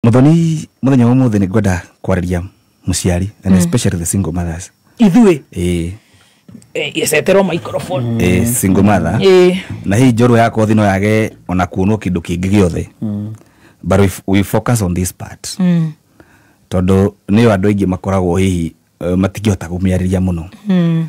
muthoni muthenya wa muthi ningwenda kwariria muciari and especially the single mothers ithuĩ eh eh, iceterwo microphone eh single mother Eh. na hii njorua ya kothi no yage ona kuonwo kindu kingi giothe but we, f- we focus on this part Mm. tondu niyo andu aingi makoragwo hihi eh, matingihota kumiariria muno Mm.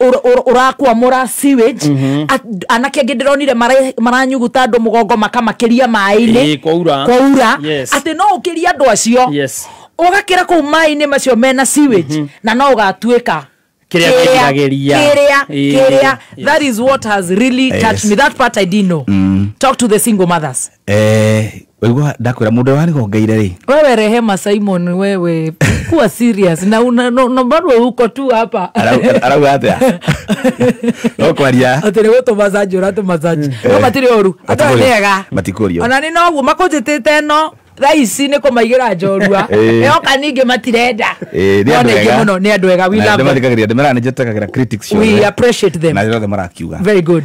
ũr- ũr- ũrakwamũra sewage At- anake angĩ ndĩronire mara- maranyuguta andũ mũgongo makamakĩria maĩ-inĩ Ĩĩ, kwaura. kwaura Yes. atĩ no ũkĩrie andũ acio Yes. ũgakĩra kũu maĩ-inĩ macio mena sewage na no ũgatuĩka Kĩrĩa kĩgiragĩria. kĩrĩa Ĩĩ, kĩrĩa yes. that is what has really touched me that part i didn't know talk to the single mothers Eh, waigua ndakwĩra mũndũ ũrĩa wanigongeire rĩ wewe rehema simon wewe kuwa serious na una- no- no bado uko tu hapa arau- arauga atĩa no kwaria atä rä gå tå macanjå ra tå macanji no matirä å ru andå aya nä ega matikũrio ona nä noguo makånjätä te no thaa ici nä kå maigä ra njorua Ĩĩ. yoka ningä matirenda Eh, nĩ andũ ega. må no nä andå ega we Na love them. nĩmathikagĩrĩria ndĩmera nĩ njĩtĩkagĩra critics We ciothe. appreciate them. na ciothe marakiuga very good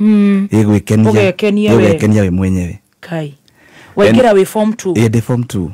Mm. gĩgwĩkenia Ũgekenia we. gĩgwĩkenia we mwenyewe kai waingĩra wĩ form two Eh, ndĩ form two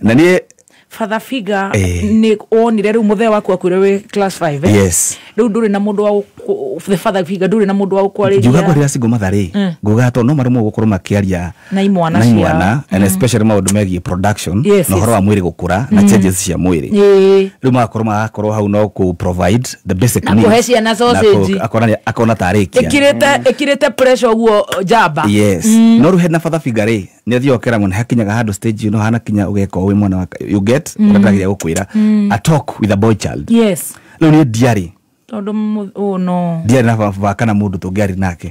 na niĩ father figa Eh. nĩ wonire rĩu mũthee waku akwĩre wĩ class 5 eh? yes rĩu ndũrĩ na mũndũ wa gũkũ- the father figa ndũrĩ na mũndũ wa ngiuga gũkwarĩria ngwarĩra singo matharĩ nguga to no marũmwo gũkorwo makĩaria na imwana na imwana ciao and especially maũndũ megiĩ production Yes, na ũhoro yes. wa mwĩrĩ gũkũra na changes cia mwĩrĩ Ĩĩ. rĩu magakorwo magakorwo hau no kũ provide the basic Na needs. kũhe ciana Na kũ- sausage. akona nĩ- akona tarĩkia ĩkirĩte ĩkirĩte pressure ũguo njamba yes no rĩu hena fatha figa rĩ nĩ athiaga ũkera mwana hakinyaga handũ stage ĩno hanakinya ũgeka ũĩ mwana wa you get ũrĩa ndĩrageria gũkwĩra a talk with a boy child yes rĩu niĩ ndiarĩ tondũ mũ- oh no ndiarĩ na baba kana mũndũ tũngĩarĩ nake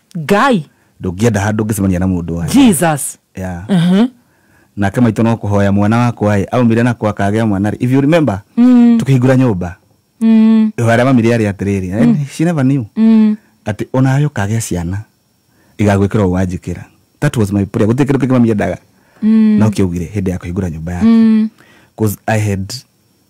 ngai ndũngĩenda handũ ngĩcemania na mũndũ wa jesus yeah. nake maitũ no kũhoya mwana wakwa ĩ aumire nakwa akagĩa mwana rĩ if you remember mm. tũkĩhingũra nyũmba mm. ihoya rĩa mami rĩarĩ atĩrĩrĩ mm. she never knew mm. atĩ onawe ũkagĩa ciana igagwĩkĩra ũwanjĩkĩra that was my prayer gũtirĩ kĩndũ kĩngĩ mami endaga mm. no kĩaugire hĩndĩ ya kũhingũra nyũmba yake mm. cause i had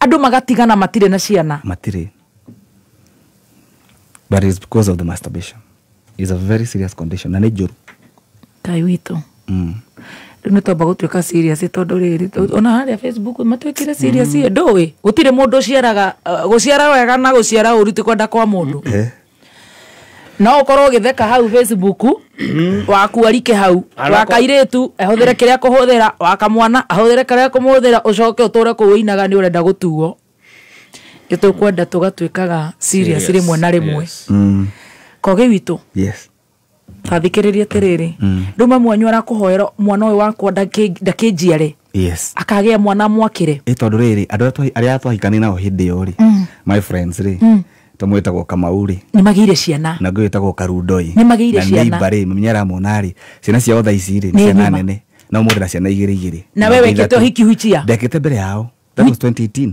Andũ magatigana matirĩ na ciana. Matirĩ. But it's because of the masturbation. It's a very serious condition. Na nĩ njũru. Ngai witũ. Mm. Rĩu nĩ twamba gũtuĩka serious tondũ rĩrĩ ona harĩa Facebook matuĩkire serious mm. ndũĩ. Gũtirĩ mũndũ ũciaraga uh, gũciara wega na gũciara ũru ti kwenda kwa mũndũ. Mm. Eh. no ũkorwo ũgĩtheka hau facebook mm-hmm. wakuarike hau wakairĩtu ahũthĩre kĩrĩa kũhũthĩra wakamwana ahũthĩre kĩrĩa kũmũhũthĩra ũcoke ũtũre kũu ũinaga nĩ ũrenda gũtuo nĩ tũkwenda tũgatuĩkaga serious rĩmwe na rĩmwe mm. kogi witũ athikĩrĩria atĩrĩrĩ mm. rĩu mamu wanyu arakũhoera mwana ũyũ wakwa ndakĩnjiare yes akagĩa mwana mwakĩre ĩ tondũ rĩrĩ andũ arĩa twahikane nao hĩndĩ ĩyo rĩ mm. my friends rĩ mm tamwe tagwo kamau ri ni magire ciana na ngwe tagwo karundoi ni magire ciana na ibare mnyara monari ciana cia otha ici ri ciana nene na umurira ciana igiri igiri na wewe kete hiki huchia ndekete mbere yao that was 2018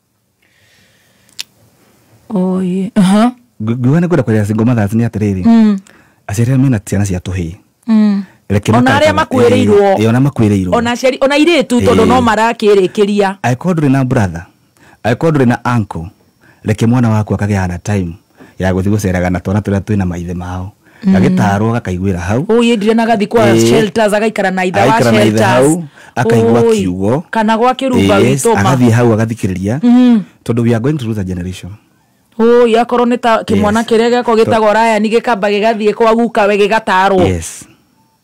oye aha Ngu- nguga nä kwenda kwarä single mothers nä atä rä rä Mm, aciarä mena ciana cia tå hä mm. Ona arĩa makuĩrĩirwo. ona makuä rä irwo ona aciari ona irĩtu tondũ Eh. no marakĩrĩkĩria angĩkorwo ndũrĩ na brother angĩkorwo ndũrĩ na uncle reke mwana waku akagĩa na time ya gũthiĩ gũceraga na twana tũrĩa twĩna maithe mao gagĩtarwo gakaiguĩra hau Ũũ yendire na gathi kwa Ĩĩ. shelters agaikara na itha wa Agaikara na ithe hau, shelters akaigua Ũũi. kiugo. kana gwa kĩrumba Yes, witũ ma agathiĩ hau agathikĩrĩria tondũ we are going to lose a generation Ũũi, akorwo nĩ ta kĩmwana Yes. kĩrĩa gĩakwa gĩtagwo rayani gĩkamba gĩgathiĩ kwa gukawe gĩgatarwo yes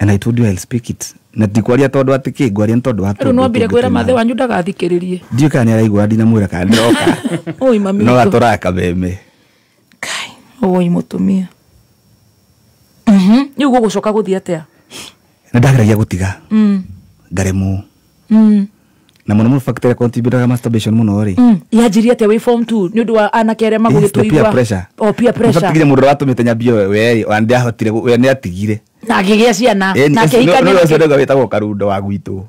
And I told you I'll speak it. Na ti kwaria tondu ati ki ngwaria tondu wa tondu. Riu no mbire kwira mathe wanyu ndagathikiririe. Ndiu kana ni araigua ndina mwira kana ndoka. Oi mami. No atura kameme. Kai, oi mutumia. Mhm. Riu gugucoka guthia atia? Nindageragia gutiga. Mm. Ngaremwo. Mm. na mũno mũno factor contributaga masturbation mũno rĩ Mm. yanjirie atĩa wĩ form two nĩ ũndũ wa anake arĩa Yes, the peer pressure. magũgĩtũigua peer pressure Nĩbatigire mũndũ ũrĩa watũmĩte nyambie we ona ndiahotire we nĩ atigire na ngĩgĩa ciana Eh, na nĩ- akĩhikania nĩ- nĩ- ũcio nĩguo wĩtagwo karundo wa gwitũ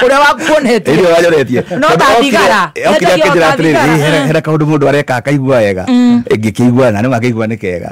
ũrĩa wakuonetie ĩrĩa wanyoretie No ta thigara. Yendagia o ta thigara. hera kaũndũ mũndũ areka akaigua wega ĩngĩkĩigua na nĩ makĩigua nĩ kega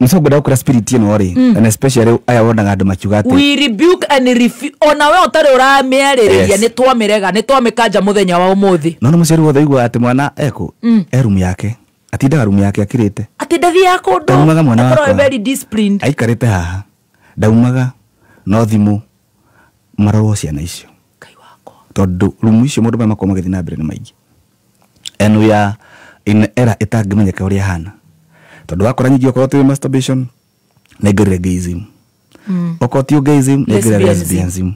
nĩcongwenda gũkĩra spirit ĩno rĩ mm. and especially aya wonaga andũ makiuga atĩ we rebuke and refu- ona we ũtarĩ ũramĩarĩrĩria Yes. nĩ twamĩrega nĩ twamĩkanja mũthenya wa ũmũthĩ nona mũciari wothe aigua atĩ mwana eko e rumu yake atindaga rumu yake akirĩte atĩ ndathiaga kũndũ Ndaumaga mwana Akorwo wakwa. very disciplined aikarĩte haha ndaumaga no thimũ marorwo ciana icio Ngai wakwa. Tondũ rumu icio maũndũ marĩa makoragwo magĩthiĩ na mbere nĩ maingĩ. And we are in a era ĩtangĩmenyeka ũrĩa ĩhana. Tondũ wakora ningĩ okorwo ti masturbation, nĩ aingĩrĩre gayism. Okorwo ti gayism, nĩ aingĩrĩre Lesbianism. lesbianism.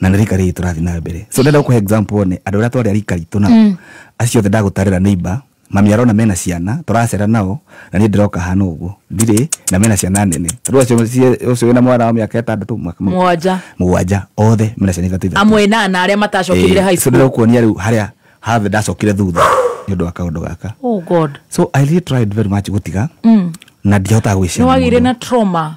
Na nĩ rika rĩrĩ tũrathiĩ na mbere. So ndĩrenda gũkũhe example one andũ arĩa twarĩ a rika ritũ nao. Acio othe ndagũtarĩra neighbor, Mami arona mena ciana tũracera nao na niĩ ndĩroka hana ũguo ndirĩ na mena ciana nene rĩu acio cie- ũcio wĩna mwana wa mĩaka ĩtandatũ mwaka- Mũgwanja. mũgwanja othe mena ciana ithatũ ithatũ amwe na na arĩa matacokire high school ndĩrakuonia rĩu harĩa have ndacokire thutha nĩ ũndũ wa kaũndũ gaka oh god so i really tried very much gũtiga na ndihotaga gwĩciria nĩwagĩire mũndũ. na trauma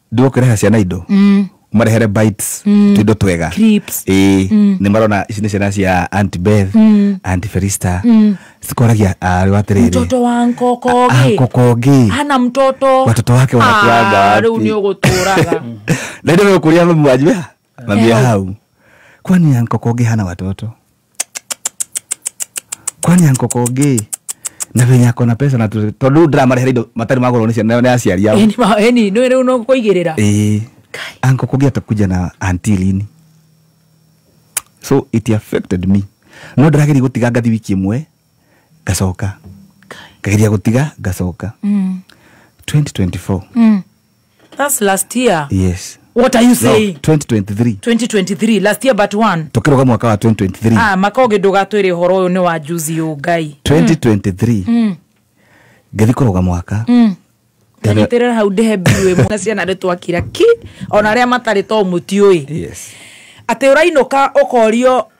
ndio ũkĩreha ciana indo mm. marehere bites mm. tuindo twega Crisps. ĩĩ mm. nĩ marona ici nĩ ciana cia anti beth mm. anti ferista mm. cikoragia arĩ wa atĩrĩrĩ mtoto wa nkokogi kokongi hana mtoto Watoto wake wanakuanga Ah, wapi? rĩu nĩ ũgũtũraga na ndio kuria mwaji Naambia hau. Kwani yanko Koge hana watoto? Kwani yanko Koge na venye ako na pesa na tu- tondu ndĩramarĩhĩra indo matarĩ magũrwo nĩ ciana nĩ aciari yao Eni ma- eni nä rä u no kå igä rä ra Eh, anko Koge atakuja na anti lini so it affected me no ndĩrageria gũtiga ngathi wiki ĩmwe ngacoka ngageria gũtiga ngacoka 2024 That's last year. yes What are you no, saying? 2023 2023 last year but one. tũkĩroga mwaka wa 2023 Ah, makoge ndũgatwĩre ũhoro ũyũ nĩ wa juzi yũ ngai. 2023 ngĩthi kũroga mwaka Tanyitirĩra hau ndĩhe mbiũ ĩmwe na ciana nĩ twakira ki ona arĩa matarĩ to mũtiũĩ. yes Atĩ ũrainũka ũkorio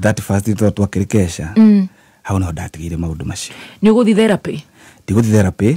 that first day twa twakĩrĩ kesha hau naho ndatigĩire maũndũ macio nä å gå thi therapä ndigũthi therapy